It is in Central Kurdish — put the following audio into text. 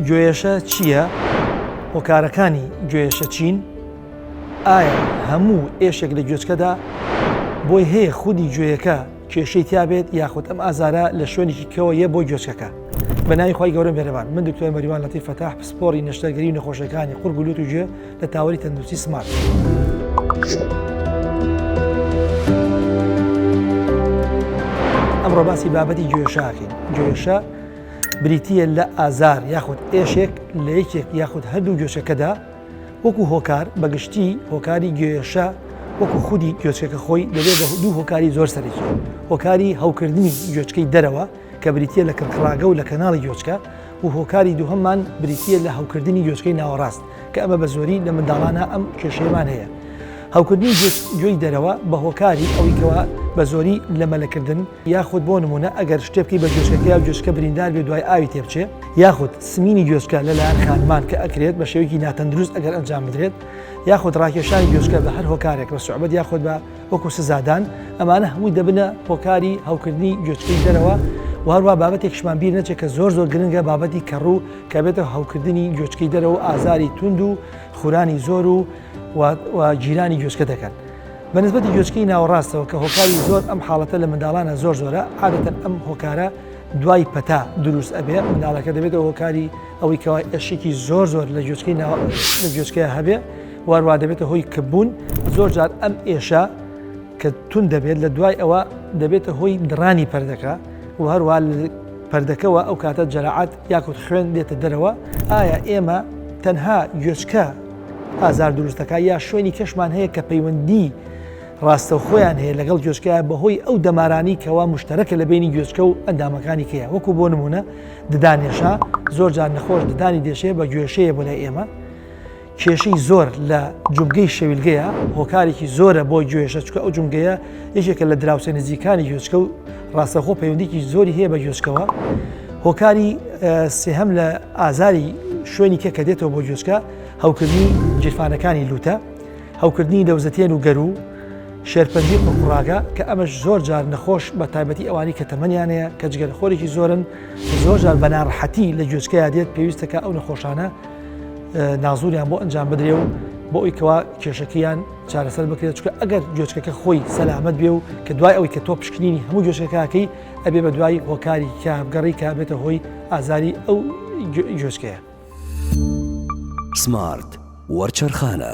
گۆیەشە چییە؟ هۆکارەکانی گۆیەشە چین؟ ئایا هەموو ئێشێک لە گوێچکەدا بۆی هەیە خودی گوێیەکە کێشەی تیابێت یاخود ئەم ئازارە لە شوێنێکی کەوە یە بۆ گوێچکەکە؟ بە ناوی خوای گەورە مێرەبان من دکتۆر مەریوان لەتیف فەتاح پسپۆری نەشتەرگەری و نەخۆشیەکانی قورگ و لوت و گوێ لە تاوەری تەندروستی سمارت. ئەمڕۆ باسی بابەتی گوێشاکەین گوێشە بریتییە لە ئازار یاخود ئێشێک لە یەکێک یاخود هەردوو گوێچەکەدا، وەکو هۆکار، بە گشتی هۆکاری گوێێشە وەکو خودی گوێچکەکە خۆی دەبێت بە دوو هۆکاری زۆر سەرەکی، هۆکاری هەوکردنی گوێچکەی دەرەوە کە بریتییە لە کڕکڕاگە و لە کەناڵی گوێچکە و هۆکاری دووهەممان بریتییە لە هەوکردنی گوێچکەی ناوەڕاست کە ئەمە بە زۆری لە منداڵانە ئەم کێشەیەمان هەیە هەوکردنی گوێی دەرەوە بە هۆکاری ئەویکەوە بە زۆری لە مەلەکردن یاخود بۆ نموونە ئەگەر شتێ بکەی بە گوێچکەکە یا گوێچکە بریندار بێ دوای ئاوی تێ بچێ یاخود سمینی گوێچکە لەلایەن خانمان کە ئەکرێت بە شێوەیەکی ناتەندروست ئەگەر ئەنجام بدرێت یاخود ڕاکێشانی گوێچکە بە هەر هۆکارێک بە سوعبەت یاخود بە وەکو سزادان ئەمانە هەمووی دەبنە هۆکاری هەوکردنی گوێچکەی دەرەوە و هەروە بابەتێکشمان بیر نەچێت کە زۆر زۆر گرنگە بابەتی کەڕوو کە بێتە هەوکردنی گوێچکەی دەرەوە ئازاری توند و خورانی زۆر و و گیرانی گوێچکە دەکەن. بە نسبەتی گوێچکەی ناوەڕاستەوە کە هۆکاری زۆر ئەم حاڵەتە لە منداڵانە زۆر زۆرە عادەتەن ئەم هۆکارە دوای پەتا دروست ئەبێ منداڵەکە دەبێتەوە هۆکاری ئەوەی کەوای ئەشێکی زۆر زۆر لە گوێچکەی ناوە لە گوێچکەیە هەبێ واروا دەبێتە هۆی کبوون زۆر جار ئەم ئێشە کە تون دەبێت لە دوای ئەوە دەبێتە هۆی دڕانی پردەکە و هەروە پردەکەەوە ئەو کاتە جەرەعات یاکوت خوێن دێتە دەرەوە ئایا ئێمە تەنها گوێچکە ئازار دروست دەکات یا شوێنی کەشمان هەیە کە پەیوەندی ڕاستەوخۆیان هەیە لەگەڵ گوێچکەیە بەهۆی ئەو دەمارانی کەوا مشتەرەکە لە بینی گوێچکە و ئەندامەکانی کەیە وەکو بۆ نمونە ددانێشە زۆر جار نەخۆش ددانی دێشەیە بە گوێشەیە بۆ لای ئێمە کێشەی زۆر لە جومگەی شەویلگەیە هۆکارێکی زۆرە بۆ گوێشە چکە ئەو جومگەیە یەکێکە لە دراوسێ نزیکانی گوێچکە و ڕاستەخۆ پەیوەندیکی زۆری هەیە بە گوێچکەوە هۆکاری سێهەم لە ئازاری شوێنی کە کە دێتەوە بۆ گوێچکە هەوکردنی جیرفانەکانی لوتە هەوکردنی لەوزەتێن و گەرو شێرپەنجی قڕاگە کە ئەمەش زۆر جار نەخۆش بە تایبەتی ئەوانی کە تەمەنیانەیە کە جگەر خۆرێکی زۆرن زۆر جار بەناڕحەتی لە گوێچکەیا دێت پێویستەکە ئەو نەخۆشانە نازوریان بۆ ئەنجام بدرێ و بۆ ئەویکەوە کێشەکەیان چارەسەر بکرێت چکە ئەگەر گوێچکەکە خۆی سەلامەت بێ و کە دوای ئەوی کە تۆ پشکنینی هەموو گوێچکەکەکەی ئەبێ بە دوای هۆکاری کابگەڕی کا بێتە هۆی ئازاری ئەو گوێچکەیە. سمارت وەرچەرخانە.